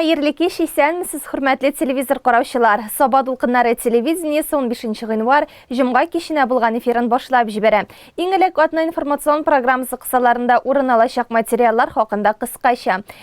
Хәерле кич, исәнмесез, хөрмәтле телевизор караучылар. Саба дулкыннары телевидениесе 15 гыйнвар җомга киченә булган эфирын башлап җибәрә. Иң элек атна информацион программасы кысаларында урын алачак материаллар хакында кыскача.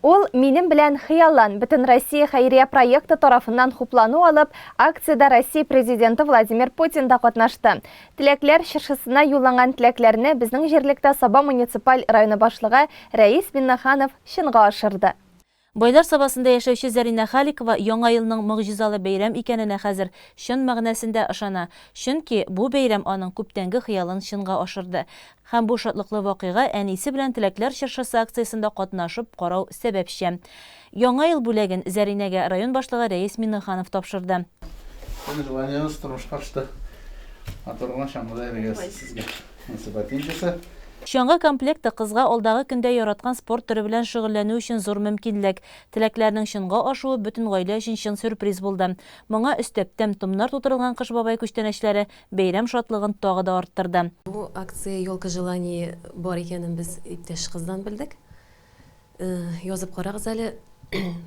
Ул Минем белән хыяллан! Бөтенроссия хәйрия проекты тарафыннан хуплану алып, акциядә Россия Президенты Владимир Путин да катнашты. Теләкләр чыршысына юлланган теләкләрне безнең җирлектә Саба муниципаль районы башлыгы Рәис Миннаханов чынга ашырды. Байлар Сабасында яшәүче Зәринә Халикова Яңа елның могҗизалы бәйрәм икәненә хәзер чын мәгънәсендә ышана, чөнки бу бәйрәм аның күптәнге хыялын чынга ашырды. Һәм бу шатлыклы вакыйга әнисе белән Теләкләр чыршысы акциясендә катнашып карау сәбәпчә. Яңа ел бүләген Зәринәгә район башлыгы Рәис Миңнеханов тапшырды. Бу желаниегез тормышка ашты. Матур гына чаңгыда йөрергә сезгә насыйп әйтмичәсе. Чаңгы комплекты кызга алдагы көндә яраткан спорт төре белән шөгыльләнү өчен зур мөмкинлек. Теләкләрнең чынга ашуы бөтен гаилә өчен чын сюрприз булды. Моңа өстәп, тәм-томнар тутырылган Кыш бабай күчтәнәчләре, бәйрәм шатлыгын тагы да арттырды. Бу акция Елка желаний бар икәнен без иптәш кыздан белдек. Язып карагыз әле,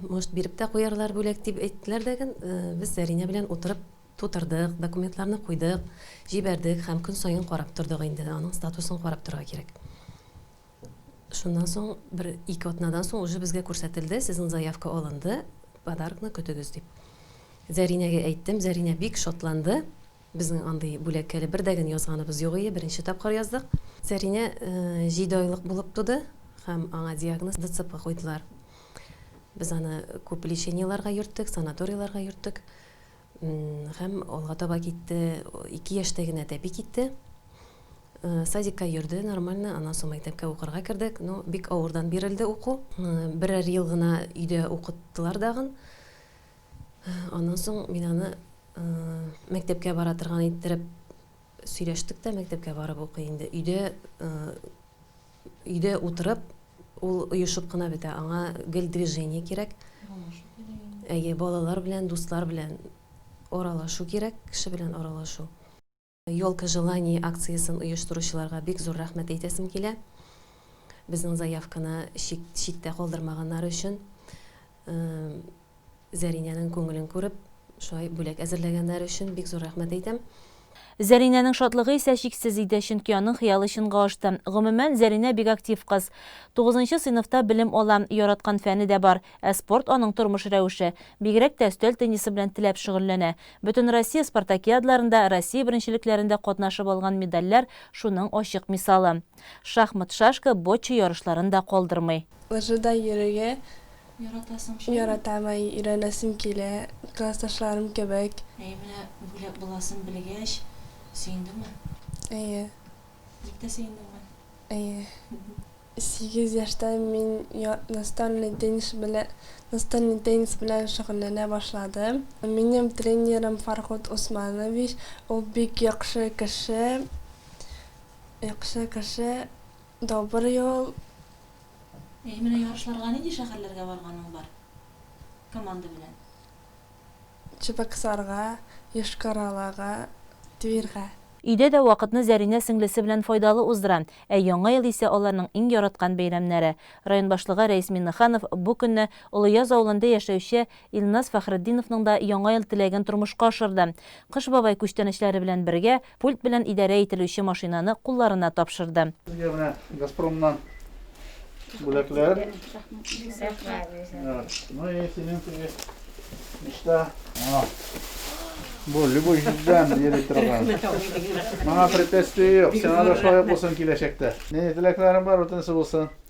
может биреп тә куярлар бүләк, дип әйттеләр дә ген, без Зәринә белән утырып тутырдык, документларны куйдык, җибәрдек һәм көн саен карап тордык инде, аның статусын карап торырга кирәк. Шуннан соң бер ике атнадан соң уже безгә күрсәтелде, сезнең заявка алынды, подаркны көтегез дип. Зәринәгә әйттем, Зәринә бик шатланды. Безнең андый бүләккә әле бер дә ген язганыбыз юк ие, беренче тапкыр яздык. Зәринә җиде айлык булып туды һәм аңа диагноз ДЦП куйдылар. Без аны күп лечениеларга йөрттек, санаторийларга йөрттек. Һәм алга таба китте. Ике яшьтә генә тәпи китте. Садикка йөрде нормально, аннан соң мәктәпкә укырга кердек. Ну, бик авырдан бирелде уку. Берәр ел гына өйдә укыттылар дагын. Аннан соң мин аны мәктәпкә бара торган иттереп сөйләштек тә, мәктәпкә барып укый инде. Өйдә Өйдә утырып, ул оешып кына бетә, аңа гел движение кирәк. Әйе, балалар белән, дуслар белән аралашу кирәк, кеше белән аралашу. Елка желаний акциясен оештыручыларга бик зур рәхмәт әйтәсем килә. Безнең заявканы читтә калдырмаганнары өчен. Зәринәнең күңелен күреп, шулай бүләк әзерләгәннәре өчен бик зур рәхмәт әйтәм. Зәринәнең шатлыгы исә чиксез иде, чөнки аның хыялы чынга ашты. Гомумән, Зәринә бик актив кыз. Тугызынчы сыйныфта белем ала, яраткан фәне дә бар. Ә спорт, аның тормыш рәвеше. Бигрәк тә өстәл теннисы белән теләп шөгыльләнә. Бөтенроссия спартакиадларында, Россия беренчелекләрендә катнашып алган медальләр шуның ачык мисалы. Шахмат, шашка, бочча ярышларын да калдырмый. Лыжыда йөрергә яратам, әй, өйрәнәсем килә, классташларым кебек. Әйе, менә бүләк буласын белгәч, сөендеңме? Әйе. Бик тә сөендеңме? Әйе. Сигез яшьтә мин настольный теннис белән, настольный теннис белән шөгыльләнә башладым. Минем тренерым Фархут Усманович, ул бик яхшы кеше, яхшы кеше. Добрый ул. Әй, менә ярышларга нинди шәһәрләргә барганың бар команда белән? Чебоксарга, Йошкар-Олага, Тверьга. Өйдә дә вакытны Зәринә сеңлесе белән файдалы уздыра, ә Яңа ел исә аларның иң яраткан бәйрәмнәре. Район башлыгы Рәис Миннеханов бу көнне Олыяз авылында яшәүче Илназ Фәхретдиновның да Яңа ел теләген тормышка ашырды. Кыш бабай күчтәнәчләре белән бергә, пульт белән идарә ителүче машинаны кулларына тапшырды. Сезгә менә Газпромнан бүләкләр. Рәхмәт. Ну и синең теге мечта. Аңа бу любой җирдән йөри торган. Моңа препятствие юк. Сиңа да шулай ук булсын киләчәктә. Нинди теләкләрең бар, бүтәнсе булсын.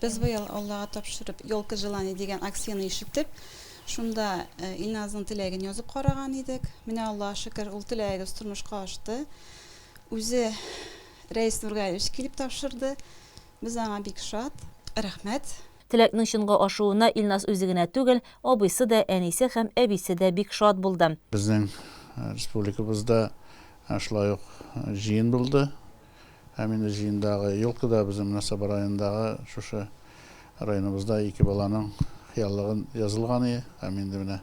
Без быел, Аллага тапшырып, Ёлка желаний дигән акцияне ишетеп, шунда Илназның теләген язып караган идек. Менә, Аллага шөкер, ул теләгебез тормышка ашты. Үзе Рәис Нургалиевич килеп тапшырды. Без аңа бик шат. Рәхмәт. Теләкнең чынга ашуына Илназ үзе генә түгел, абыйсы да, әнисе һәм әбисе дә бик шат булды. Безнең республикабызда шулай ук җыен булды. Ә менә җыендагы елка да безнең мөнәсәбә райондагы шушы районыбызда ике баланың хыяллыгын язылган ие, һәм инде менә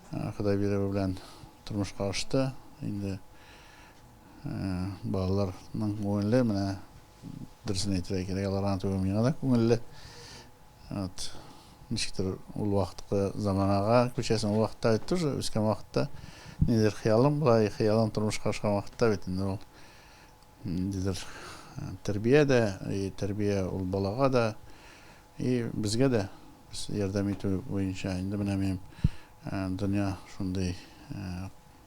Ходай бирүе белән тормышка ашты. Инде балаларның күңеле менә дөресен әйтергә кирәк, аларга түгел, миңа да күңелле. Вот. Ничектер ул вакыткы заманага күчәсең, ул вакытта бит тоже үскән вакытта нидер хыялың була, и хыялың тормышка ашкан вакытта бит инде ул ниндидер тәрбия дә, и тәрбия ул балага да, и безгә дә без ярдәм итү буенча инде менә минем дөнья шундый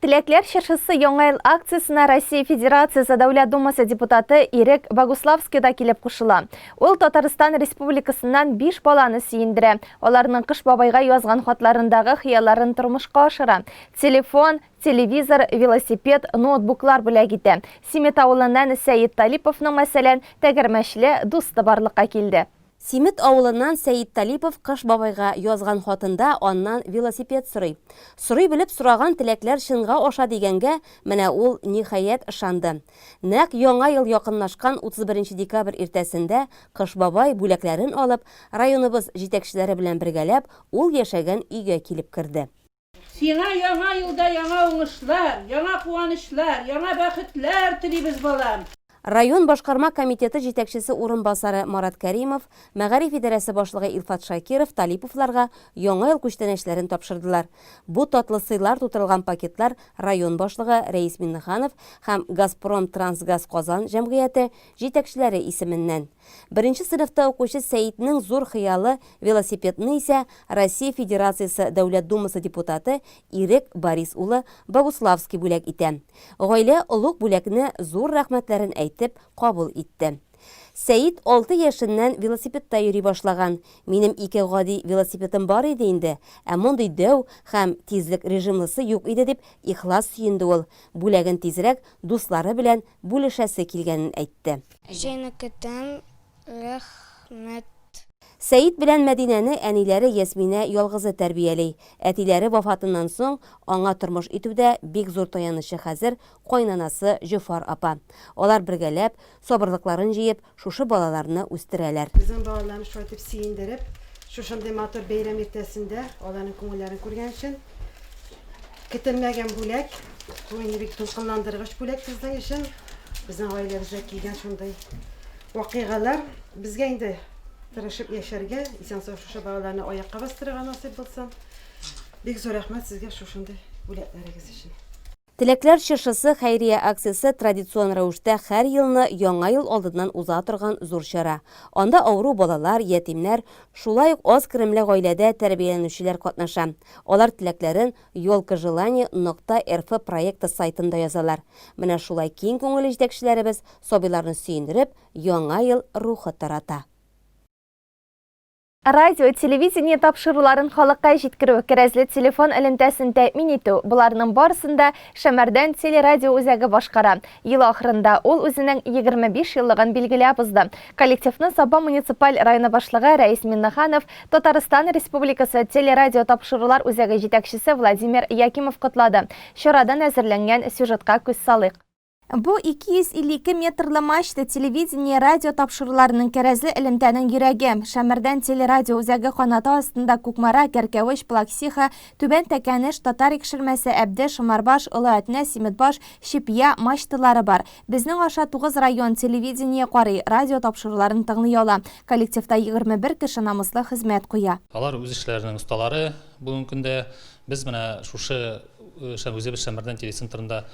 Теләкләр чыршысы Яңа ел акциясенә Россия Федерациясе Дәүләт Думасы депутаты Ирек Богуславский да килеп кушыла. Ул Татарстан Республикасыннан биш баланы сөендерә, аларның Кыш бабайга язган хатларындагы хыялларын тормышка ашыра, телефон, телевизор, велосипед, ноутбуклар бүләк итә. Симет авылыннан Сәет Талиповның, мәсәлән, тәгәрмәчле дусты барлыкка килде. Симет авылыннан Сәет Талипов Кыш бабайга язган хатында аннан велосипед сорый. Сорый белеп сораган теләкләр чынга аша дигәнгә менә ул, ниһаять, ышанды. Нәкъ Яңа ел якынлашкан 31 декабрь иртәсендә Кыш бабай, бүләкләрен алып, районыбыз җитәкчеләре белән бергәләп, ул яшәгән өйгә килеп керде. Сиңа яңа елда яңа уңышлар, яңа куанычлар, яңа бәхетләр телибез, балам! Район башкарма комитеты җитәкчесе урынбасары Марат Кәримов, мәгариф идарәсе башлыгы Илфат Шакиров Талиповларга Яңа ел күчтәнәчләрен тапшырдылар. Бу татлы сыйлар тутырылган пакетлар район башлыгы Рәис Миңнеханов һәм Газпромтрансгаз Казан җәмгыяте җитәкчеләре исеменнән. Беренче сыйныфта укучы Сәетнең зур хыялы, велосипедны исә Россия Федерациясе Дәүләт Думасы депутаты Ирек Борис улы Богуславский бүләк итә. Гаилә олуг бүләкне зур рәхмәтләрен әйтеп кабул итте. Сәет алты яшеннән велосипедта йөри башлаган. Минем ике гади велосипедым бар иде инде, ә мондый дәү һәм тизлек режимлысы юк иде, дип ихлас сөенде ул, бүләген тизрәк дуслары белән бүлешәсе килгәнен әйтте. Сине көтәм, рәхмәт. Сәет белән Мәдинәне әниләре Ясминә ялгызы тәрбияли. Әтиләре вафатыннан соң аңа тормыш итүдә бик зур таянычы хәзер кайнанасы Җофар апа. Алар бергәләп, сабырлыкларын җыеп, шушы балаларны үстерәләр. Безнең балаларны шулай итеп сөендереп, шушындый матур бәйрәм иртәсендә аларның күңелләрен күргән өчен, көтелмәгән бүләк, бу инде бик дулкынландыргыч бүләк безнең өчен. Безнең гаиләбездә килгән шундый вакыйгалар. Безгә инде тырышып яшәргә, исән-сау шушы балаларны аякка бастырырга насыйп булсын. Бик зур рәхмәт сезгә шушындый бүләкләрегез өчен. Теләкләр чыршысы хәйрия акциясе традицион рәвештә хәр елны Яңа ел алдыннан уза торган зур чара. Анда авыру балалар, ятимнәр, шулай ук аз керемле гаиләдә тәрбияләнүчеләр катнаша. Алар теләкләрен Ёлка желаний нокта рф проекты сайтында язалар. Менә шулай киң күңелле җитәкчеләребез сабыйларны сөендереп, Яңа ел рухы тарата. Радио, телевидение тапшыруларын халыкка җиткерү, кәрәзле телефон элемтәсен тәэмин итү, боларның барысын да Шәмәрдән телерадио үзәге башкара. Ел ахырында ул үзенең 25 еллыгын билгеләп узды. Коллективны Саба муниципаль районы башлыгы Рәис Миннеханов, Татарстан Республикасы телерадио тапшырулар үзәге җитәкчесе Владимир Якимов котлады. Чарадан әзерләнгән сюжетка күз салыйк. Бу 252 метрлы мачта телевидение, радио тапшыруларының кәрәзле элемтәнең йөрәге. Шәмәрдән телерадио үзәге канаты астында Кукмара, Кәркәвеч, Плаксиха, Түбән Тәкәнеш, Татар Икшермәсе, Әбде, Шомарбаш, Олы Әтнә, Симетбаш, Чепья, мачталары бар. Безнең аша тугыз район телевидение карый, радио тапшыруларын тыңлый ала. Коллективта 21 кеше намуслы хезмәт куя. Алар үз эшләренең осталары бүгенге көндә. Без менә шушы үзебез Шәмәрдән телецентрында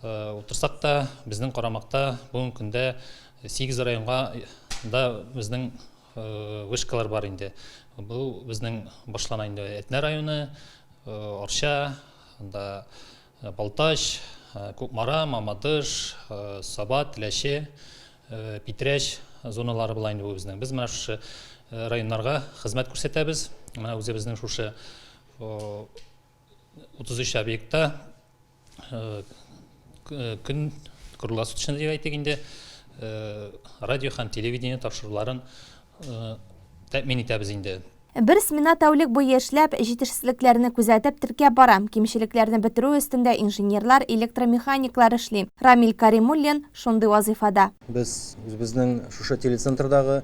Утырсак та, безнең карамакта бүгенге көндә 8 районга да безнең вышкалар бар инде. Бу безнең башлана инде Әтнә районы, Арча, анда Балтач, Кукмара, Мамадыш, Саба, Теләче, Питрәч зоналары була инде бу безнең. Без менә шушы районнарга хезмәт күрсәтәбез. Менә үзебезнең шушы 33 объектта көн круглосуточный дип әйтик инде радио һәм телевидение тапшыруларын тәэмин итәбез инде. Бер смена тәүлек буе эшләп, җитешсезлекләрне күзәтеп, теркәп бара. Кимчелекләрне бетерү өстендә инженерлар, электромеханиклар эшли. Рамил Каримуллин шундый вазыйфада. Без үзебезнең шушы телецентрдагы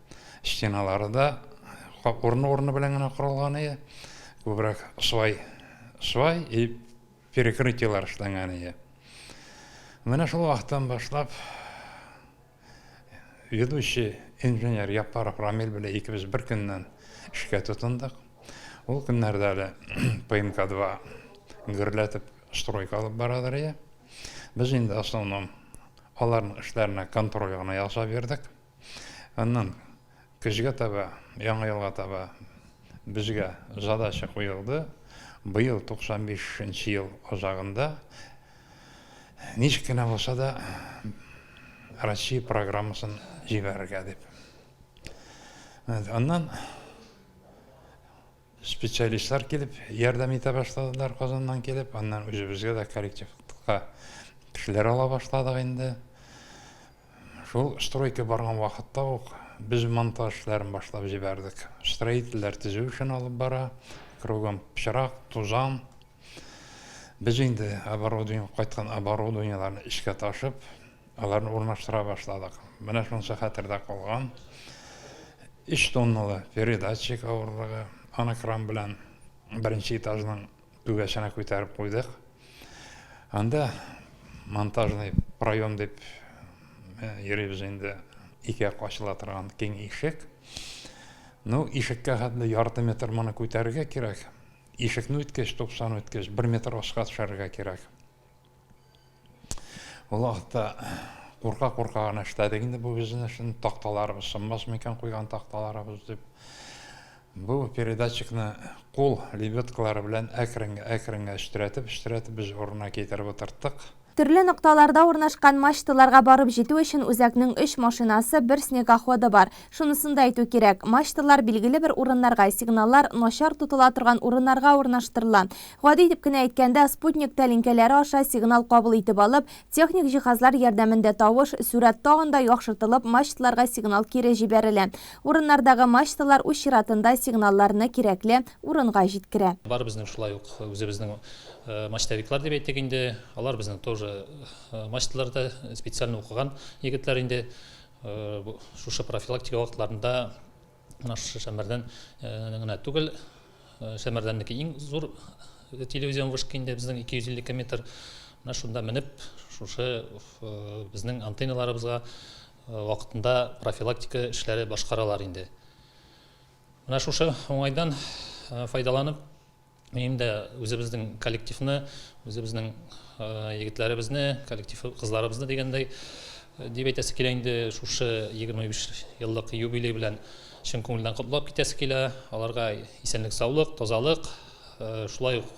Стеналары да урыны-урыны белән генә корылган иде. Күбрәк свай, свай и перекрытиелар эшләнгән иде. Менә шул вакыттан башлап ведущий инженер Яппаров Рамил белән икебез бер көннән эшкә тотындык. Ул көннәрдә әле ПМК-2 гөрләтеп стройка алып барадыр иде. Без инде основном аларның эшләренә контроль гына ясап йөрдек. Аннан көзгә таба, яңа елга таба безгә задача куелды. Быел 95 нче ел азагында ничек кенә булса да Россия программасын җибәрергә дип. Аннан Специалистлар килеп ярдәм итә башладылар Казаннан килеп, аннан үзебезгә дә коллективка кешеләр ала башладык инде. Шул стройка барган вакытта ук без монтаж эшләрен башлап җибәрдек. Строительләр төзү эшен алып бара, кругом пычрак, тузан. Без инде оборудование, кайткан оборудованиеләрне эчкә ташып, Аларны урнаштыра башладык. Менә шунысы хәтердә калган. 3 тонналы передатчик авырлыгы, аны кран белән беренче этажның түбәсенә күтәреп куйдык. Анда монтажный проем дип э, йөрибез инде, ике ачыла торган киң ишек. Ну, ишеккә хәтле ярты метр моны күтәрергә кирәк. Ишекне үткәч, 90 үткәч, 1 метр аска төшәргә кирәк. Ул вакытта курка-курка гына эшләдек инде бу бизнесны, такталарыбыз сынмас микән куйган такталарыбыз дип. Бу передатчикны кул лебедкалары белән әкрен-әкрен өстерәтеп-өстерәтеп без урынына китереп утырттык. Төрле нокталарда урнашкан мачталарга барып җитү өчен үзәкнең өч машинасы, бер снегоходы бар. Шунысын да әйтү кирәк, мачталар билгеле бер урыннарга, сигналлар начар тотыла торган урыннарга урнаштырыла. Гади итеп кенә әйткәндә, спутник тәлинкәләре аша сигнал кабул итеп алып, техник җиһазлар ярдәмендә тавыш, сурәт тагын да яхшыртылып, мачталарга сигнал кире җибәрелә. Урыннардагы мачталар үз чиратында сигналларны кирәкле урынга җиткерә. Бары безнең шулай ук үзебезнең мачтовиклар дип әйтик инде, алар безнең тоже мачталарда, специально укыган егетләр инде. Шушы профилактика вакытларында менә шушы Шәмәрдән генә түгел, Шәмәрдәннеке иң зур телевизион вышка инде безнең 252 метр. Менә шунда менеп, шушы безнең антенналарыбызга вакытында профилактика эшләре башкаралар инде. Менә шушы уңайдан файдаланып, Минем дә үзебезнең коллективны, үзебезнең егетләребезне, коллектив кызларыбызны дигәндәй дип әйтәсе килә инде шушы 25 еллык юбилей белән чын күңелдән котлап китәсе килә. Аларга исәнлек, саулык, тазалык, шулай ук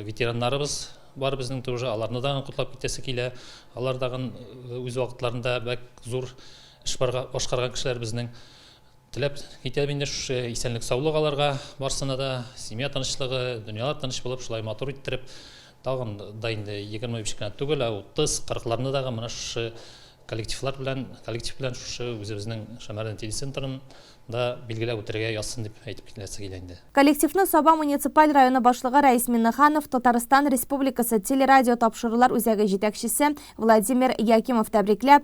ветераннарыбыз бар безнең тоже, аларны да котлап китәсе килә. Алар да үз вакытларында бәк зур эш башкарган кешеләр безнең. Теләп китәм инде шушы исәнлек саулык аларга барсына да, семья тынычлыгы, дөньялар тыныч булып шулай матур иттереп тагын да инде егерме биш кенә түгел, ә утыз, кырыкларны дагы менә шушы коллективлар белән, коллектив белән шушы үзебезнең Шәмәрдән телецентрын да билгеләп үтәргә язсын дип әйтеп киләсе килә инде. Коллективны Саба муниципаль районы башлыгы Рәис Миннеханов, Татарстан Республикасы телерадио тапшырулар үзәге җитәкчесе Владимир Якимов тәбрикләп,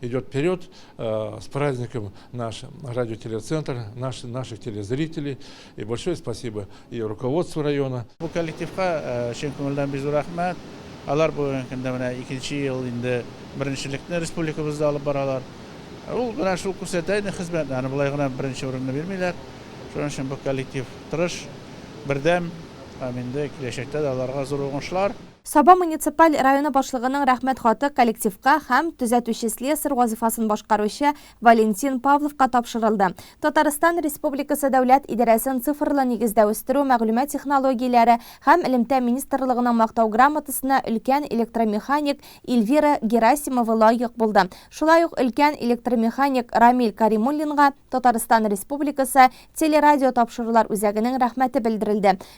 Идет вперед э, с праздником наш радиотелецентр, наш, наших телезрителей. И большое спасибо и руководству района. Бу коллективка э, чын күңелдән бик зур рәхмәт. Алар бүгенге көндә менә икенче ел инде беренчелекне республикабызда алып баралар. Ул гына шул күрсәтә инде хезмәтне, аны болай гына беренче урынны бирмиләр. Шуның өчен бу коллектив тырыш, бердәм, һәм инде киләчәктә дә аларга зур уңышлар. Саба муниципаль районы башлыгының рәхмәт хаты коллективка һәм төзәтүче слесарь вазыйфасын башкаручы Валентин Павловка тапшырылды. Татарстан Республикасы Дәүләт идарәсен цифрлы нигездә үстерү, мәгълүмат технологияләре һәм элемтә министрлыгының Мактау грамотасына өлкән электромеханик Ильвира Герасимова лаек булды. Шулай ук өлкән электромеханик Рамил Каримуллинга Татарстан Республикасы телерадиотапшырулар үзәгенең рәхмәте белдерелде.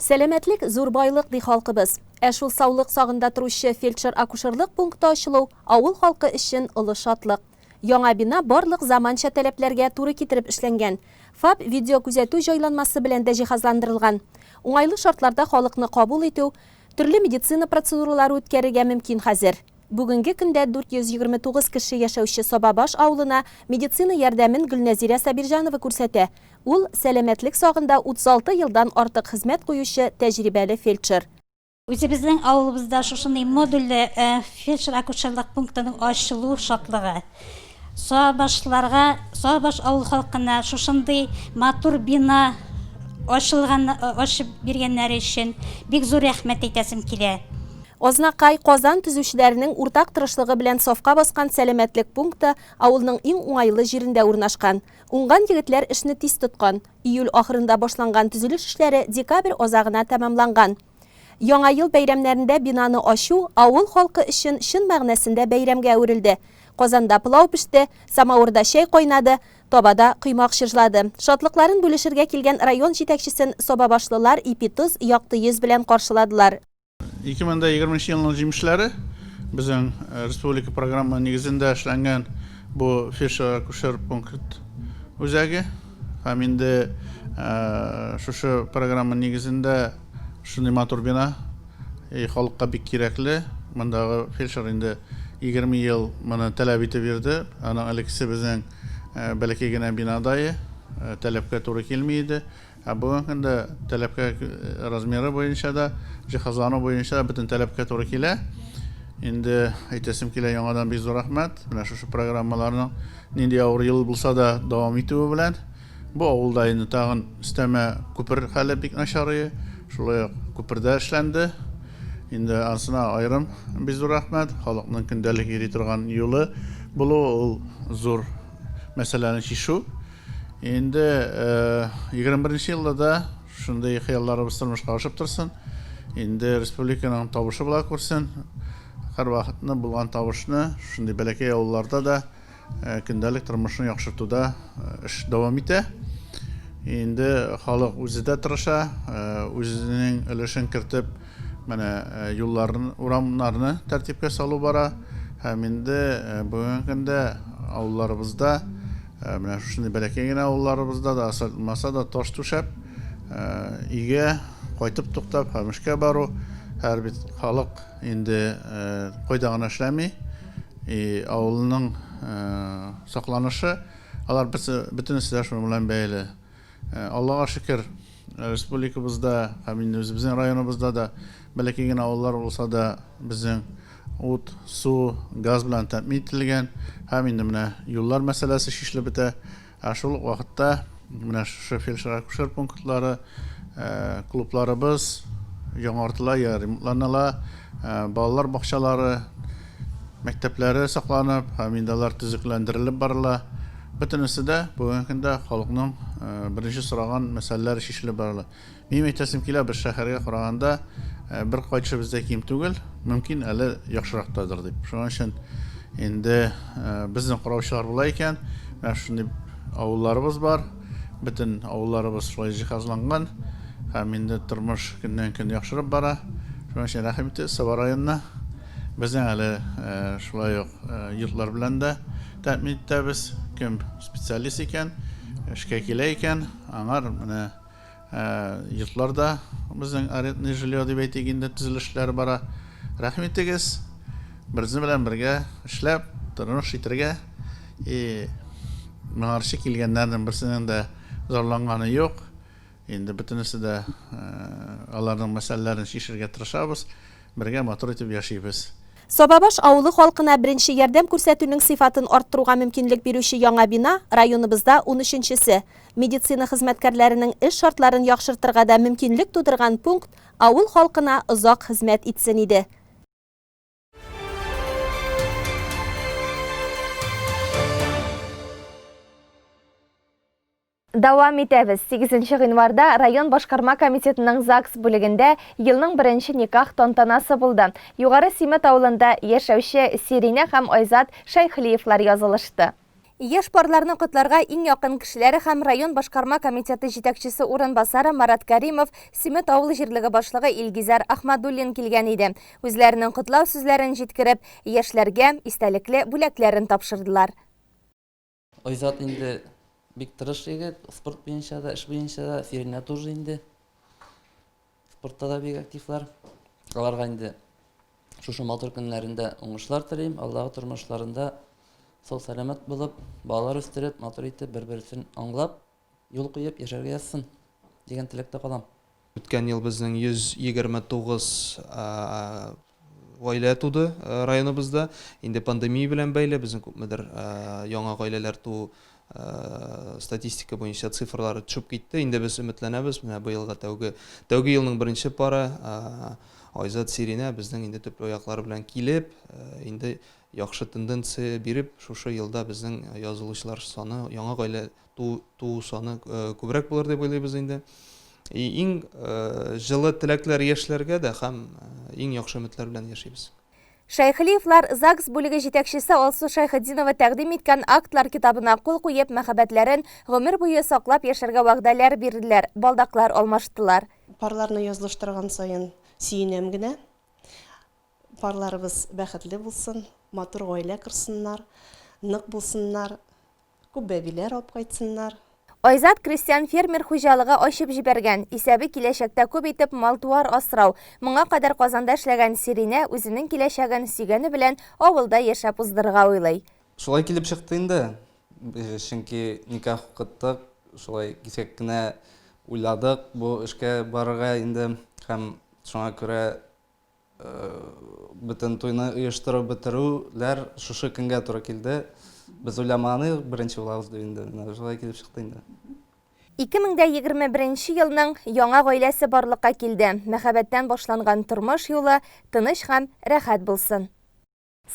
Сәламәтлек, зур байлык, ди халкыбыз. Ә шул саулык сагында торучы фельдшер-акушерлык пункты ачылу, авыл халкы өчен олы шатлык. Яңа бина барлык заманча таләпләргә туры китереп эшләнгән. ФАП видеокүзәтү җайланмасы белән дә җиһазландырылган. Уңайлы шартларда халыкны кабул итү, төрле медицина процедуралары үткәрергә мөмкин хәзер. Бүгенге көндә 429 кеше яшәүче Сабабаш авылына медицина ярдәмен Гөлнәзирә Сабирҗанова күрсәтә. Ул, сәламәтлек сагында 36 елдан артык хезмәт куючы тәҗрибәле фельдшер. Үзебезнең авылыбызда шушындый модульле фельдшер-акушерлык пунктының ачылу шатлыгы. Сабашларга, Сабаш авыл халкына шушындый матур бина ачылган, ачып биргәннәре өчен бик зур рәхмәт әйтәсем килә. Азнакай, Казан төзүчеләренең уртак тырышлыгы белән сафка баскан сәламәтлек пункты авылның иң уңайлы җирендә урнашкан. Уңган егетләр эшне тиз тоткан. Июль ахырында башланган төзелеш эшләре декабрь азагына тәмамланган. Яңа ел бәйрәмнәрендә бинаны ачу авыл халкы өчен чын мәгънәсендә бәйрәмгә әверелде. Казанда пылау пеште, самавырда чәй кайнады, табада коймак чыжлады. Шатлыкларын бүлешергә килгән район җитәкчесен сабабашлылар ипи-тоз, якты йөз белән каршыладылар. 2020 нче елның җимешләре, безнең республика програмы нигезендә эшләнгән бу фельдшер-акушер пункт үзәге. Һәм инде шушы программа нигезендә шундый матур бина и халыкка бик кирәкле. Мондагы фельдшер инде 20 ел моны таләп итеп йөрде. Аның элеккесе безнең бәләкәй генә бинадае, таләпкә туры килми иде. Ә бүгенге көндә таләпкә размеры буенча да, җиһазлану буенча да бөтен таләпкә туры килә. Инде әйтәсем килә, яңадан бик зур рәхмәт менә шушы программаларның. Нинди авыр ел булса да дәвам итүе белән, бу авылда инде тагын өстәмә күпер хәле бик начарые, шулай ук күпердә эшләнде. Инде анысына аерым бик зур рәхмәт. Халыкның көндәлек йөри торган юлы булуы ул зур мәсьәләне чишү. Инде 21 нче елда да Шундый хыялларыбыз тормышка ашып торсын. Инде республиканың табышы була күрсен. Һәрвакытны булган табышны шундый бәләкәй авылларда да э, көндәлек тормышны яхшыртуда э, эш дәвам итә. Инде халык үзе дә тырыша, э, үзенең өлешен кертеп, Менә юлларны, урамнарны тәртипкә салу бара. Һәм инде бүгенге көндә авылларыбызда, менә шушындый бәләкәй генә авылларыбызда да асфальтлмаса да таш түшәп, өйгә кайтып туктап, һәм эшкә бару, һәр бит халык инде кайда гына эшләми, и авылның сакланышы, алар бөтенесе дә шуның белән бәйле. Аллага шөкер, республикабызда һәм инде үзебезнең районыбызда да бәләкәй генә авыллар булса да безнең ут, су, газ белән тәэмин ителгән һәм инде менә юллар мәсьәләсе чишелеп бетә. Ә шул ук вакытта менә шушы фельдшер-акушер пунктлары, э, клубларыбыз яңартыла, я ремонтланыла, э, балалар бакчалары, мәктәпләре сакланып һәм инде алар төзекләндерелеп барыла. Бөтенесе дә бүгенге көндә халыкның э, беренче сораган мәсьәләләре чишелеп барыла. Минем әйтәсем килә, без шәһәргә караганда э, бер кайтышы бездә ким түгел, мөмкин әле яхшырактадыр дип. Шуның өчен инде э, безнең караучылар була икән, менә шундый авылларыбыз бар, бөтен авылларыбыз шулай җиһазланган һәм инде тормыш көннән-көн яхшырып бара. Шуның өчен рәхим итегез Саба районына. Безнең әле шулай ук йортлар белән дә тәэмин итәбез. Кем специалист икән, эшкә килә икән, аңар менә йортлар да безнең арендный жилье дип әйтик инде төзелешләр бара. Рәхим итегез, безнең белән бергә эшләп, тормыш итәргә. И моңарчы килгәннәрнең берсенең дә зарланганы юк. Инде бөтенесе дә аларның мәсьәләләрен чишергә тырышабыз, бергә матур итеп яшибез. Сабабаш авылы халкына беренче ярдәм күрсәтүнең сыйфатын арттыруга мөмкинлек бирүче яңа бина, районыбызда унөченчесе. Медицина хезмәткәрләренең эш шартларын яхшыртырга да мөмкинлек тудырган пункт авыл халкына озак хезмәт итсен иде. Дәвам итәбез. 8 гыйнварда район башкарма комитетының ЗАГС бүлегендә елның беренче никах тантанасы булды. Югары Симет авылында яшәүче Сиринә һәм Айзат Шәйхлиевлар язылышты. Яшь парларны котларга иң якын кешеләре һәм район башкарма комитеты җитәкчесе урынбасары Марат Кәримов, Симет авыл җирлеге башлыгы Илгизәр Ахмадуллин килгән иде. Үзләренең котлау сүзләрен җиткереп, яшьләргә истәлекле бүләкләрен тапшырдылар. Айзат инде бик тырыш егет, спорт буенча да, эш буенча да, Фиринә тоже инде. Спортта да бик активлар. Аларга инде шушы матур көннәрендә уңышлар телим. Алдагы тормышларында сау сәламәт булып, балалар үстереп, матур итеп, бер-берсен аңлап, юл куеп яшәргә язсын дигән теләктә калам. Үткән ел безнең 129 гаилә туды районыбызда. Инде пандемия белән бәйле безнең күпмедер яңа гаиләләр туу статистика буенча цифрлары төшеп китте. Инде без өметләнәбез, менә быелга тәүге тәүге елның беренче пары Айзат Сиринә безнең инде төпле аяклар белән килеп, инде яхшы тенденция биреп, шушы елда безнең язылучылар саны, яңа гаилә туу, туу саны күбрәк булыр дип уйлыйбыз инде. И, иң җылы теләкләр яшьләргә дә һәм иң яхшы өметләр белән яшибез. Шәйхлиевлар ЗАГС бүлеге җитәкчесе Алсу Шәйхетдинова тәкъдим иткән актлар китабына кул куеп, мәхәббәтләрен гомер буе саклап яшәргә вәгъдәләр бирделәр, балдаклар алмаштылар. Парларны язылыштырган саен сөенәм генә. Парларыбыз бәхетле булсын, матур гаилә корсыннар, нык булсыннар. Күп бәбиләр алып кайтсыннар. Айзат крестьян-фермер хуҗалыгы ачып җибәргән. Исәбе киләчәктә күп итеп мал-туар асрау. Моңа кадәр Казанда эшләгән Сиринә үзенең киләчәген сөйгәне белән авылда яшәп уздырырга уйлый. Шулай килеп чыкты инде. Чөнки никах укыттык, шулай кисәк кенә уйладык бу эшкә барырга инде һәм шуңа күрә Бөтен туйны оештырып бетерүләр шушы көнгә туры килде. Без уйламаганык беренче булабыз дип инде, менә шулай килеп чыкты инде. 2021 нче елның яңа гаиләсе барлыкка килде, мәхәббәттән башланган тормыш юлы тыныч һәм рәхәт булсын!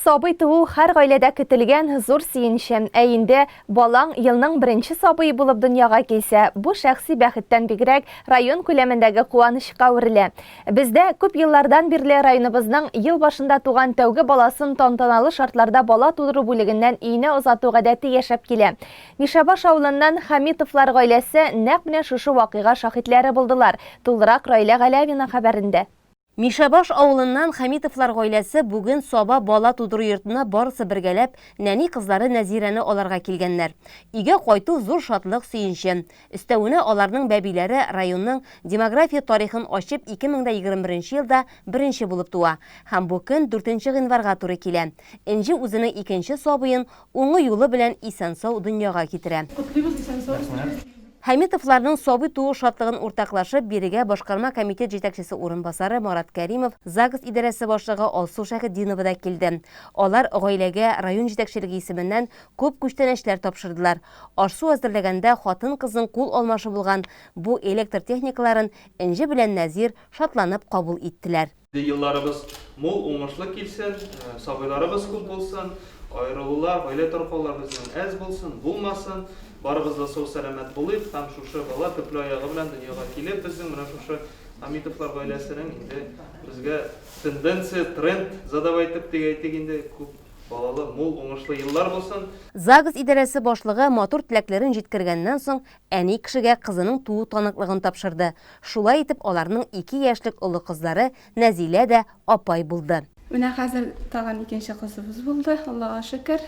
Сабый туу һәр гаиләдә көтелгән зур сөенч. Ә инде балаң елның беренче сабые булып дөньяга килсә, бу шәхси бәхеттән бигрәк, район күләмендәге куанычка әверелә. Бездә күп еллардан бирле районыбызның ел башында туган тәүге баласын тантаналы шартларда бала тудыру бүлегеннән өенә озату гадәте яшәп килә. Мишәбаш авылыннан Хәмитовлар гаиләсе нәкъ менә шушы вакыйга шаһитләре булдылар, тулырак Раилә Галәвина хәбәрендә. Мишәбаш авылыннан Хәмитовлар гаиләсе бүген Саба бала тудыру йортына барысы бергәләп нәни кызлары Нәзирәне алырга килгәннәр. Өйгә кайту зур шатлык, сөенче. Өстәвенә аларның бәбиләре районның демография тарихын ачып 2021 елда беренче булып туа һәм бу көн дүртенче гыйнварга туры килә. Энҗе үзенең икенче сабыен Уңы юлы белән исән-сау дөньяга китерә. Котлыйбыз исән-сау сезне. Хәмитовларның сабый туу шатлыгын уртаклашып, бирегә башкарма комитет җитәкчесе урынбасары Марат Кәримов, ЗАГС идарәсе башлыгы Алсу Шәхетдинова да килде. Алар гаиләгә район җитәкчелеге исеменнән күп күчтәнәчләр тапшырдылар. Аш-су әзерләгәндә хатын-кызның кул алмашы булган бу электр техникаларын Энҗе белән Нәзир шатланып кабул иттеләр. Елларыбыз мул, уңышлы килсен, сабыйларыбыз күп булсын, аерылулар, гаилә таркаулар безнең әз булсын, булмасын, барыбыз да сау-сәламәт булыйк һәм шушы бала төпле аягы белән дөньяга килеп, безнең менә шушы Хамитовлар гаиләсенең инде безгә тенденция, тренд задавай итеп дип әйтик инде, күп балалы, мул, уңышлы еллар булсын. ЗАГС идарәсе башлыгы матур теләкләрен җиткергәннән соң, Әни кешегә кызының туу таныклыгын тапшырды. Шулай итеп аларның ике яшьлек олы кызлары Нәзилә дә апай булды. Менә хәзер тагын икенче кызыбыз булды, Аллага шөкер.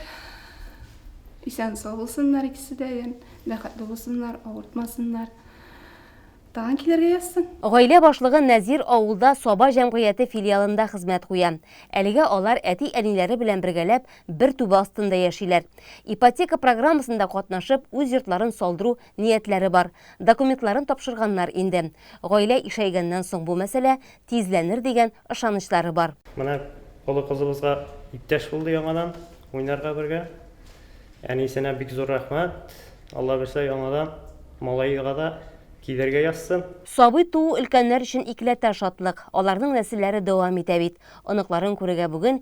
Исән-сау булсыннар икесе дә, бәхетле булсыннар, авыртмасыннар. Тагын килергә язсын. Гаилә башлыгы Нәзир авылда Саба җәмгыяте филиалында хезмәт куя. Әлегә алар әти-әниләре белән бергәләп бер түбә астында яшиләр. Ипотека программасында катнашып, үз йортларын салдыру ниятләре бар. Документларын тапшырганнар инде. Гаилә ишәйгәннән соң бу мәсьәлә тизләнер дигән ышанычлары бар. Менә олы кызыбызга иптәш булды яңадан уйнарга бергә. Әнисенә бик зур рәхмәт. Алла бирсә, яңадан малаега да килергә язсын. Сабый туу өлкәннәр өчен икеләтә шатлык. Аларның нәселләре дәвам итә бит. Оныкларын күрергә бүген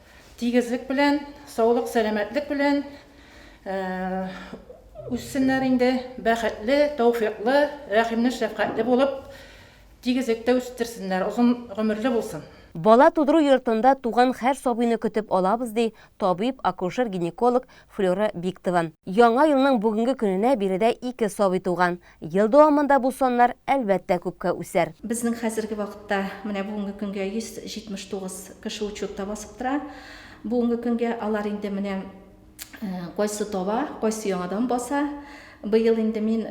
Тигезлек белән, саулык-сәламәтлек белән үссеннәр инде, бәхетле, тәүфыйклы, рәхимле, шәфкатьле булып, тигезлектә үстерсеннәр, озын гомерле булсын. Бала тудыру йортында туган хәр сабыйны көтеп алабыз, ди табиб, акушер-гинеколог Флера Биктова. Яңа елның бүгенге көненә биредә ике сабый туган. Ел дәвамында бу саннар, әлбәттә, күпкә үсәр. Безнең хәзерге вакытта менә бүгенге көнгә 179 кеше учетта басып тора. Бүгенге көнгә алар инде менә кайсы таба, кайсы яңадан баса. Быел инде мин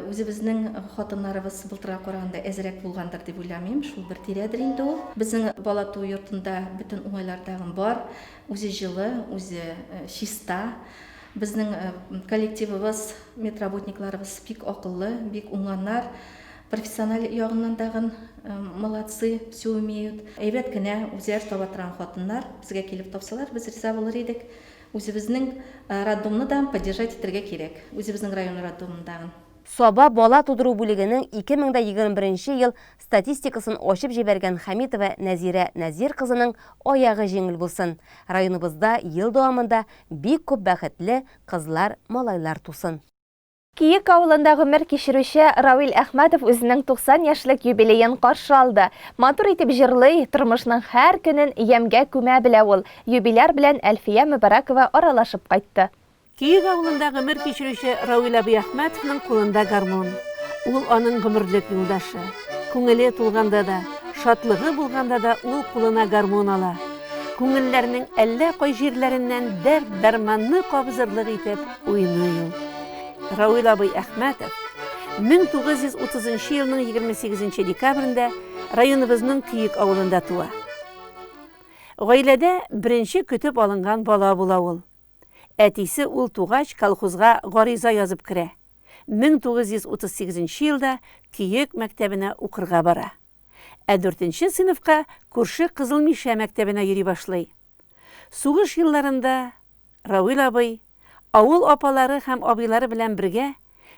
үзебезнең хатыннарыбыз былтырга караганда әзрәк булгандыр дип уйламыйм, шул бер тирәдер инде ул. Безнең бала туу йортында бөтен уңайлар тагын бар. Үзе җылы, үзе чиста. Безнең коллективыбыз, медработникларыбыз бик акыллы, бик уңганнар. Профессиональ ягыннан тагын молодцы, всё умеют. Әйбәт кенә үзләре таба торган хатыннар. Безгә килеп тапсалар, без риза булыр идек. Үзебезнең роддомны да поддержать итәргә кирәк. Үзебезнең район роддомын тагын. Саба бала тудыру бүлегенең 2021 ел Статистикасын ачып җибәргән Хәмитова Нәзирә Нәзир кызының аягы җиңел булсын, районыбызда ел дәвамында бик күп бәхетле кызлар, малайлар тусын. Киек авылында гомер кичерүче Равил Әхмәтов үзенең 90 яшьлек юбилеен каршы алды. Матур итеп җырлый, тормышның һәр көнен ямьгә күмә белә ул. Юбиляр белән Әлфия Мөбарәкова аралашып кайтты. Киек авылында гомер кичерүче Равил абый Әхмәтовның кулында гармун. Ул аның гомерлек юлдашы. Күңеле тулганда да, шатлыгы булганда да ул кулына гармун ала. Күңелләрнең әллә кай җирләреннән дәрт-дәрманны кабызырлык итеп уйный ул. Равил абый Әхмәтов 1930 елның 28 декабрендә районыбызның Киек авылында туа. Гаиләдә беренче көтеп алынган бала була ул. Әтисе ул тугач колхозга гариза язып керә. 1938 елда Көек мәктәбенә укырга бара. Ә дүртенче сыйныфка күрше Кызыл Мишә мәктәбенә йөри башлый. Сугыш елларында Равил абый, авыл апалары һәм абыйлары белән бергә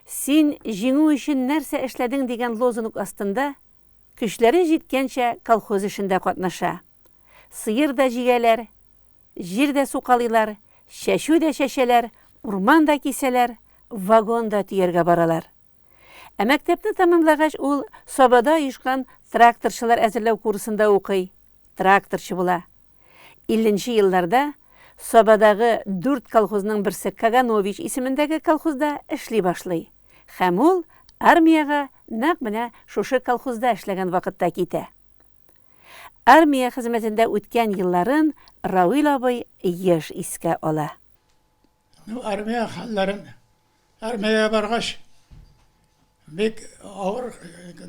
Син Җиңү өчен нәрсә эшләдең дигән лозунг астында көчләре җиткәнчә колхоз эшендә катнаша. Сыер да җигәләр. Җир дә сукалыйлар, чәчү дә чәчәләр, урман да кисәләр, вагон да төяргә баралар. Ә мәктәпне тәмамлагач, ул Сабада оешкан тракторчылар әзерләү курсында укый, тракторчы була. Илленче елларда Сабадагы дүрт колхозның берсе Каганович исемендәге колхозда эшли башлый һәм ул армиягә нәкъ менә шушы колхозда эшләгән вакытта китә. Армия хезмәтендә үткән елларын Равил абый еш искә ала. Ну, армия хәлләрен, армиягә баргач, бик авыр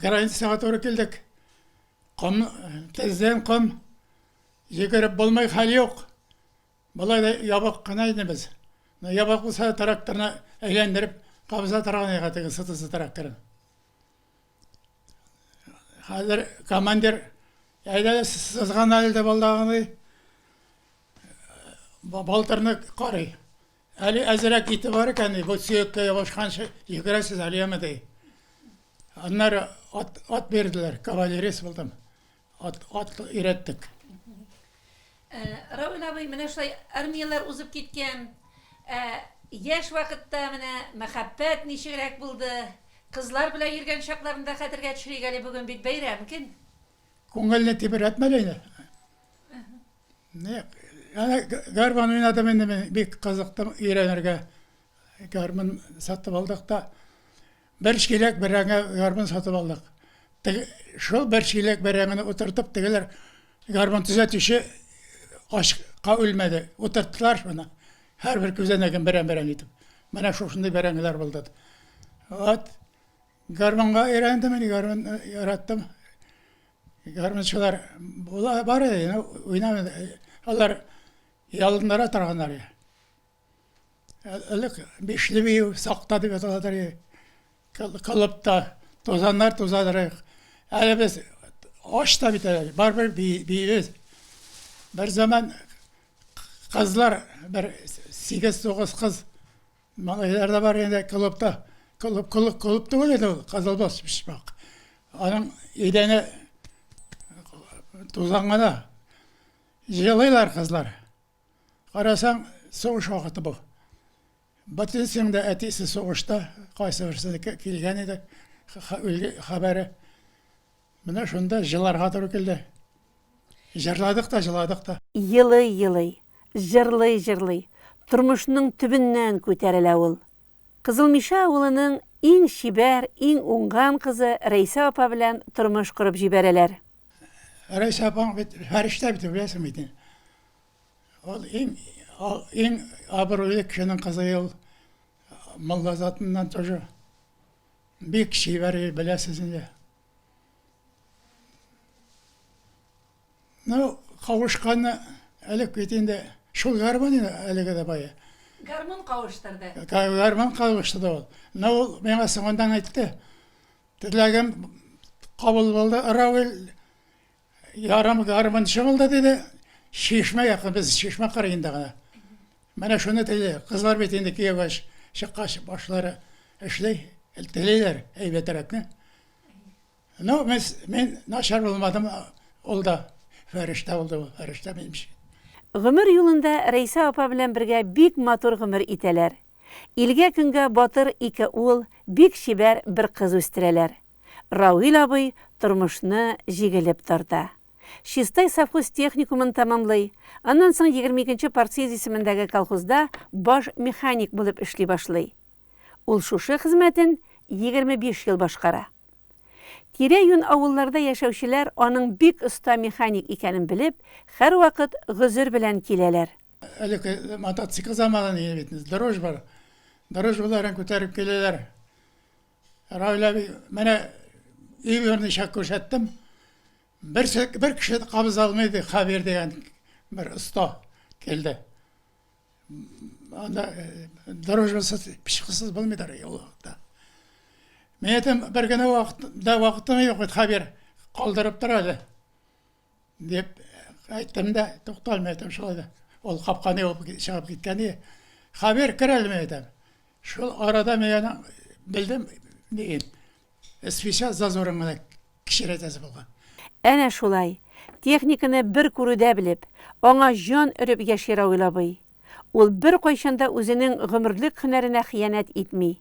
границага туры килдек. Ком, тездән ком, йөгереп булмый, хәл юк. Болай да ябык кына инде без. Ну, ябык булса да, тракторны әйләндереп кабыза торган иде теге сытысы тракторын. Хәзер командир әйдәгез сызган әле дип алдагыны балтырны карый. Әле әзрәк ите бар икән, бу сөяккә ябышканчы йөгерәсез әле яме ди. Аннары ат, ат бирделәр, кавалерист булдым. Ат, ат өйрәттек. Э, Равил абый, менә шулай армияләр узып киткән. Ә яшь вакытта менә мәхәббәт ничегрәк булды? Кызлар белән йөргән чакларында хәтергә төшерик әле, бүген бит бәйрәм көн. Күңелне тибрәтмә лә инде. Не, ана гармон уйнадым инде мин, бик кызыктым өйрәнергә. Гармон сатып алдык та. Бер чиләк бәрәңге гармун сатып алдык. Тег, шул бер чиләк бәрәңгене утыртып, тегеләр гармун төзәтүче ачка үлмәде. Утырттылар шуны. Һәрбер күзәнәген берәм-берәм итеп. Менә шушындый бәрәңгеләр булды. Вот. Гармунга өйрәндем инде, гармун э, яраттым. Гармунчылар була бар иде, уйнап алар ялыннара торганнар. Элек бишле бию, сакта дип аталады әле. Кыл- Кылыпта тузаннар тузадырык. Әле без ач та бит әле, барыбер би- биибез. Бер заман кызлар, бер сигез-тугыз кыз, малайлар да бар иде клубта. Клуб, клуб, клуб түгел иде ул, Кызылбаш почмак. Аның идәне тузан гына. Җылыйлар кызлар. Карасаң, сугыш вакыты бу. Ботинскийның да әтисе сугышта, кайсыберсенеке килгән иде хәбәре. Менә шунда җыларга туры килде. Җырладык та, җыладык та. Елый-елый, җырлый-җырлый, тормышның төбеннән күтәрелә ул. Кызылмишә авылының иң чибәр, иң уңган кызы Рәйсә апа белән тормыш корып җибәрәләр. Рәйсә апаң бит фәрештә бит, беләсең бит инде. Ул иң иң абруйлы кешенең кызы ул Мулла затыннан тоже. Бик чибәр беләсез инде. Ну, кавышканны элек бит инде шул гармон әлеге дә бая. Гармон кавыштырды. Гармон кавыштырды ул. Но ул миңа соңыннан әйтте. Теләгем кабул булды, Равил Ярым гармунчы булды, диде. Чишмә якын, без чишмә кырыенда гына. Менә шуны тели. Кызлар бит инде кияүгә чыккач, башлары эшли, телиләр әйбәтрәкне. Ну, мин, мин начар булмадым, ул да фәрештә булды, ул фәрештә минемчә. Гомер юлында Рәйсә апа белән бергә бик матур гомер итәләр. Илгә-көнгә батыр ике ул, бик чибәр бер кыз үстерәләр. Равил абый тормышны җигелеп тарта. Чистай совхоз-техникумын тәмамлый, аннан соң егерме икенче партсъезд исемендәге колхозда баш механик булып эшли башлый. Ул шушы хезмәтен егерме биш ел башкара. Тирә-юнь авылларда яшәүчеләр аның бик оста механик икәнен белеп, һәрвакыт гозер белән киләләр. Элек мотоцикл заманы дигән бит, дрожь бар. Дрожь боларын күтәреп киләләр. Раилә әби, менә өй берничә күрсәттем. Бер, бер кеше кабыз алмый иде, Хавер дигән бер оста килде. Анда э, дорожасыз, пешкысыз булмыйдыр ул вакытта. Мен әйтәм, бер генә вакытта вакытым юк, Хавер калдырып тора әле. Дип әйттем дә, тукталмый әйтәм шулай да. Ул капканы ябып чыгып киткән иде. Хәбир кер әле мин әйтәм. Шул арада мин аны белдем, диген. Свеча зазорын гына кечерәйтәсе булган. Әнә шулай, техниканы бер күрүдә белеп, аңа җан өреп яши Равил абый. Ул беркайчан да үзенең гомерлек һөнәренә хыянәт итми.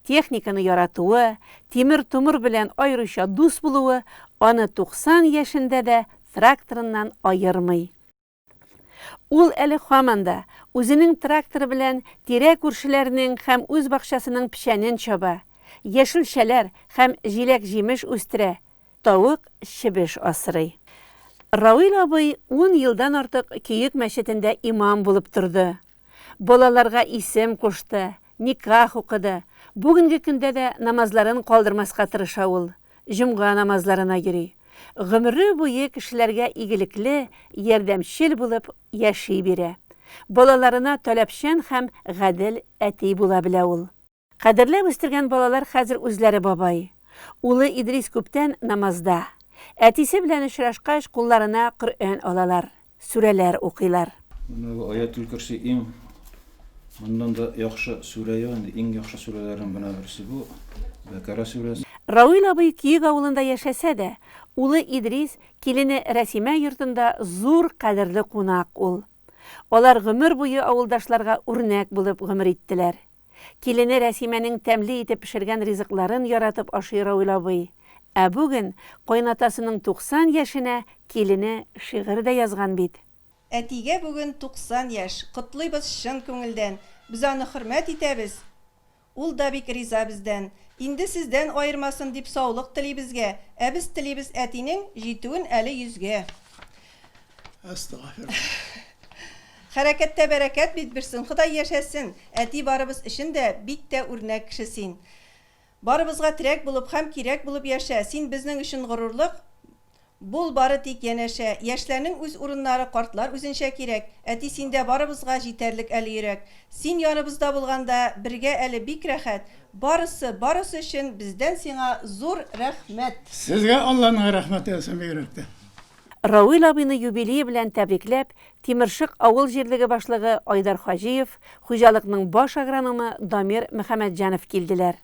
Техниканы яратуы, тимер-томыр белән аеруча дус булуы аны 90 яшендә дә тракторыннан аермый. Ул әле һаман да үзенең тракторы белән тирә-күршеләрнең һәм үз бакчасының печәнен чаба, яшелчәләр һәм җиләк-җимеш үстерә, Тавык, чебеш асрый. Равил абый ун елдан артык Көек мәчетендә имам булып торды. Балаларга исем кушты, никах укыды. Бүгенге көндә дә намазларын калдырмаска тырыша ул. Җомга намазларына йөри. Гомере буе кешеләргә игелекле, ярдәмчел булып яши бирә. Балаларына таләпчән һәм гадел әти була белә ул. Кадерләп үстергән балалар хәзер үзләре бабай. Улы Идрис күптән намазда. Әтисе белән очрашкач, кулларына Коръән алалар, сүрәләр укыйлар. Менә бу Аятул Көрси иң моннан да яхшы сүрә юк инде, иң яхшы сүрәләрнең менә берсе бу, Бәкара сүрәсе. Равил абый Киек авылында яшәсә дә, улы Идрис, килене Рәсимә йортында зур кадерле кунак ул. Алар гомер буе авылдашларга үрнәк булып гомер иттеләр. Килене Рәсимәнең тәмле итеп пешергән ризыкларын яратып ашый Равил абый. Ә бүген кайнатасының 90 яшенә килене шигырь дә язган бит. Әтигә бүген 90 яшь, котлыйбыз чын күңелдән, без аны хөрмәт итәбез, ул да бик риза бездән. Инде сездән аермасын дип саулык тели безгә, ә без телибез әтинең җитүен әле йөзгә. Хәрәкәттә бәрәкәт бит бирсен, Ходай яшәсен! Әти барыбыз өчен дә бик тә үрнәк кеше син. Барыбызга терәк булып хәм кирәк булып яшә, син безнең өчен горурлык Бул бары тик янәшә. Яшьләрнең үз урыннары картлар үзенчә кирәк, Әти синдә барыбызга җитәрлек әле йөрәк. Син яныбызда булганда бергә әле бик рәхәт, Барысы, барысы өчен бездән сиңа зур рәхмәт! Сезгә Алланың рәхмәте яусын бигрәк тә. Равил абыйны юбилее белән тәбрикләп, Тимершык авыл җирлеге башлыгы Айдар Хаҗиев, хуҗалыкның баш агрономы Дамир Мөхәммәтҗанов килделәр.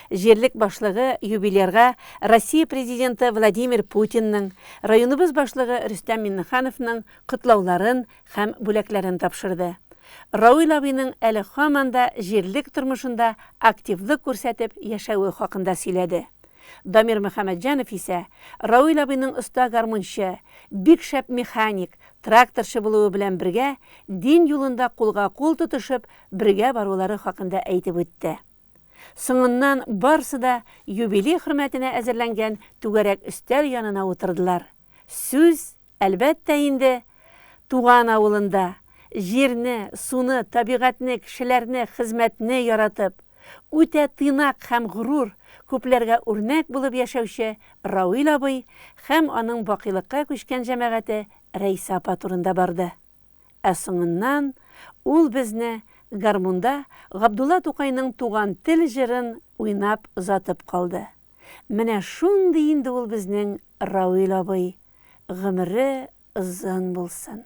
Җирлек башлыгы юбилярга Россия Президенты Владимир Путинның, районыбыз башлыгы Рөстәм Миннехановның котлауларын, һәм бүләкләрен тапшырды. Равил абыйның әле һаман да җирлек тормышында активлык күрсәтеп яшәве хакында сөйләде. Дамир Мөхәммәтҗанов исә Равил абыйның оста гармунчы, бик шәп механик, тракторчы булуы белән бергә дин юлында кулга-кул тотышып бергә барулары хакында әйтеп үтте. Соңыннан барсы да юбилей хөрмәтенә әзерләнгән түгәрәк өстәл янына утырдылар. Сүз, әлбәттә инде, туган авылында, җирне, суны, табигатьне, кешеләрне, хезмәтне яратып, үтә тыйнак һәм горур, күпләргә үрнәк булып яшәүче Равил абый һәм аның бакыйлыкка күчкән җәмәгате Рәйсә апа турында барды. Ә соңыннан ул безне гармунда Габдулла Тукайның Туган тел җырын уйнап озатып калды. Менә шундый инде ул безнең Равил абый, гомере озын булсын.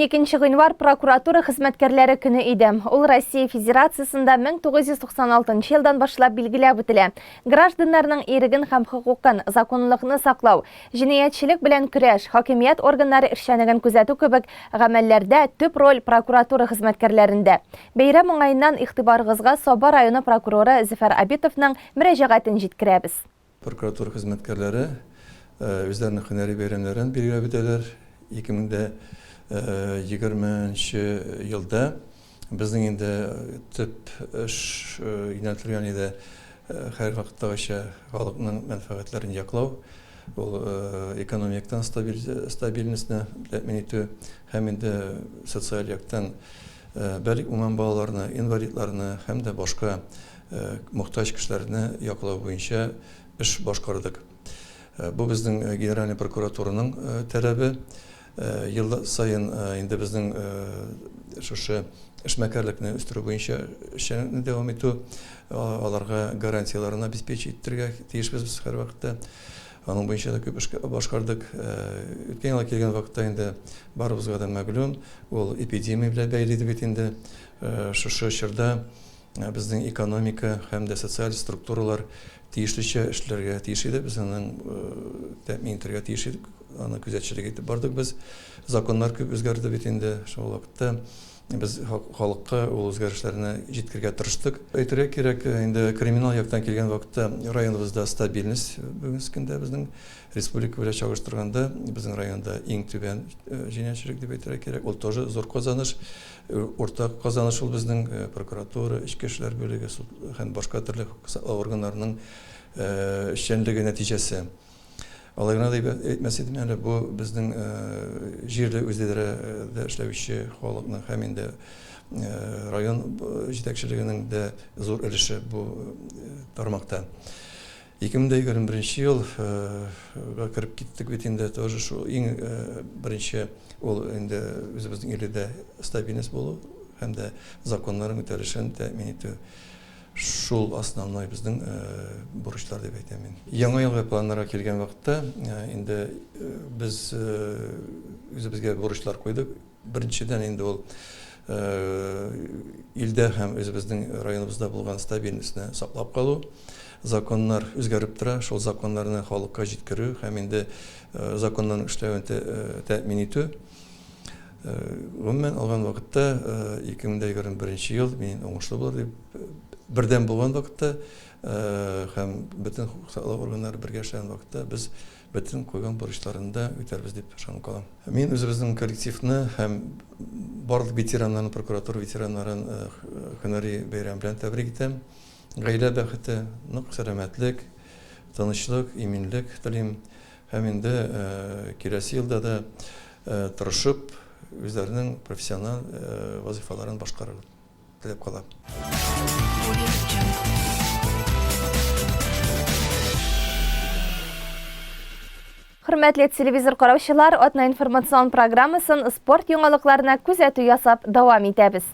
12 гыйнвар прокуратура хезмәткәрләре көне иде. Ул Россия Федерациясендә 1996 елдан башлап билгеләп үтелә. Гражданнарның иреген һәм хокукын, законлыкны саклау, Җинаятьчелек белән көрәш, хакимият органнары эшчәнеген күзәтү кебек гамәлләрдә төп роль прокуратура хезмәткәрләрендә. Бәйрәм уңаеннан игътибарыгызга Саба районы прокуроры Зөфәр Абитовның мөрәҗәгатен җиткерәбез. Прокуратура хезмәткәрләре үзләренең һөнәри бәйрәмнәрен билгеләп үтәләр. 2020 нче елда Безнең инде төп эш юнәлтелгән иде һәр вакыттагыча халыкның мәнфәгатьләрен яклау, ул экономиктан стабильностьны тәэмин итү һәм инде социаль яктан бәлик уңган балаларны, инвалидларны һәм дә башка мохтаҗ кешеләрне яклау буенча эш башкардык. Бу безнең Генеральный прокуратураның таләбе. Ел саен инде безнең шушы эшмәкәрлекне үстерү буенча эшчәнлекне дәвам итү, аларга гарантияләрен обеспечить итәргә тиешбез без һәрвакытта. Аның буенча да күп эш башкардык. Үткән елга килгән вакытта инде барыбызга да мәгълүм, ул эпидемия белән бәйле иде бит инде. Шушы чорда Безнең экономика һәм дә социаль структуралар тиешлечә эшләргә тиеш иде. Без аның тәэмин итәргә тиеш идек. Аны күзәтчелек итеп бардык без. Законнар күп үзгәрде бит инде. Шул вакытта без халыкка ул үзгәрешләрне җиткергә тырыштык. Әйтергә кирәк, инде криминал яктан килгән вакытта районыбызда стабильность бүгенге көндә безнең республика белән чагыштырганда безнең районда иң түбән җинаятьчелек дип әйтергә кирәк. Ул тоже зур казаныш. Уртак казаныш ул безнең прокуратура, эчке эшләр бүлеге, суд һәм башка төрле хокук саклау органнарының эшчәнлеге нәтиҗәсе. Алай гына да әйтмәс идем әле, бу безнең җирле үзидарәдә эшләүче халыкның һәм инде район җитәкчелегенең дә зур өлеше бу тармакта. 2021 нче ел га кереп киттек бит инде, тоже шул иң беренче ул инде үзебезнең иледә стабильность булу һәм дә законнарның үтәлешен тәэмин итү. Шул основной безнең бурычлар дип әйтәм мин. Яңа елга планнарга килгән вакытта, инде без үзебезгә бурычлар куйдык. Беренчедән инде ул илдә һәм үзебезнең районыбызда булган стабильностьны саклап калу. Законнар үзгәреп тора, шул законнарны халыкка җиткерү һәм инде законнарның эшләвен тәэмин итү. Гомумән алган вакытта 2021 ел мин уңышлы булыр дип, бердәм булган вакытта һәм бөтен хокук саклау органнары бергә эшләгән вакытта без Бөтен куйган бурычларын да үтәрбез дип ышанып калам. Мин үзебезнең коллективны һәм барлык ветераннарны, прокуратура ветераннарын һөнәри бәйрәм белән тәбрик итәм. Гаилә бәхете, нык сәламәтлек, тынычлык, иминлек телим. Һәм инде киләсе елда да тырышып, үзләренең профессиональ вазыйфаларын башкарыр. теләп калам. Хөрмәтле телевизор караучылар, Атна информацион программасын спорт яңалыкларына күзәтү ясап дәвам итәбез.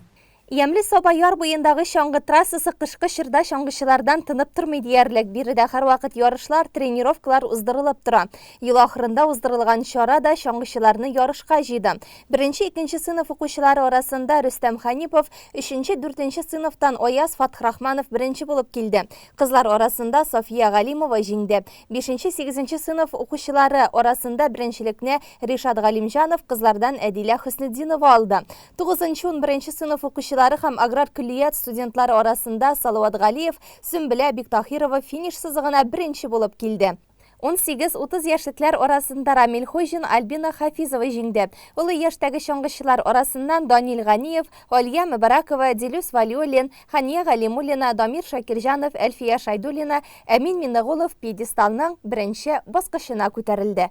Ямле Саба яр буендагы чаңгы трассасы кышкы чорда чаңгычылардан тынып тормый диярлек. Биредә һәрвакыт ярышлар, тренировкалар уздырылып тора. Ел ахырында уздырылган чара да чаңгычыларны ярышка җыйды. Беренче, икенче сыйныф укучылары арасында Рөстәм Ханипов, өченче, дүртенче сыйныфтан Аяз Фатхрахманов беренче булып килде. Кызлар арасында Сафия Галимова җиңде. Бишенче, сигезенче сыйныф укучылары арасында беренчелекне Ришат Галимҗанов, кызлардан Әдилә Хөснетдинова алды. Тугызынчы, унберенче сыйныф укучылары һәм аграр көллият студентлары арасында Салават Галиев, Сөмбелә Биктаһирова финиш сызыгына беренче булып килде. Унсигез-утыз яшьлекләр арасында Рамил Хуҗин, Альбина Хафизова җиңде. Олы яшьтәге чаңгычылар арасыннан Данил Ганиев, Алия Мөбаракова, Дилүс Вәлиуллин, Хания Галимуллина, Дамир Шакирҗанов, Әлфия Шәйдуллина, Әмин Миннегулов пьедесталның беренче баскычына күтәрелде.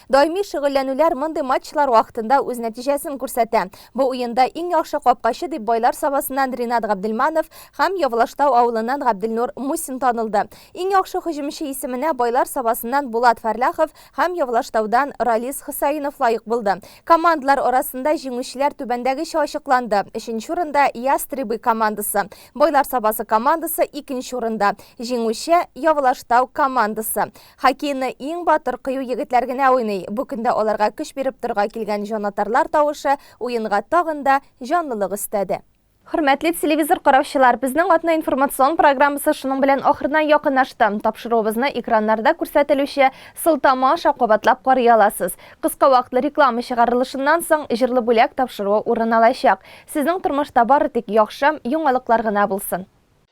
Даими шөгыльләнүләр мондый матчлар вакытында үз нәтиҗәсен күрсәтә. Бу уенда иң яхшы капкачы дип Байлар Сабасыннан Ринат Габделманов һәм Явлаштау авылыннан Габделнур Мусин танылды. Иң яхшы һөҗүмче исеменә Байлар Сабасыннан Булат Фәрляхов һәм Явлаштаудан Ралис Хөсәенов лаек булды. Командалар арасында җиңүчеләр түбәндәгечә ачыкланды, өченче урында, Ястребы командасы. Байлар Сабасы командасы, икенче урында. Җиңүче, Явлаштау командасы. Хоккейны иң батыр, кыю егетләр генә уйный. Бу көндә аларга көч биреп торырга килгән җанатарлар тавышы уенга тагын да җанлылык өстәде. Хөрмәтле телевизор караучылар, безнең атна информацион программасы шуның белән ахырына якынлашты. Тапшыруыбызны экраннарда күрсәтелүче сылтама аша кабатлап карый аласыз. Кыска вакытлы реклама чыгарылышыннан соң, җырлы бүләк тапшыруы урын алачак. Сезнең тормышта бары тик яхшы яңалыклар гына булсын!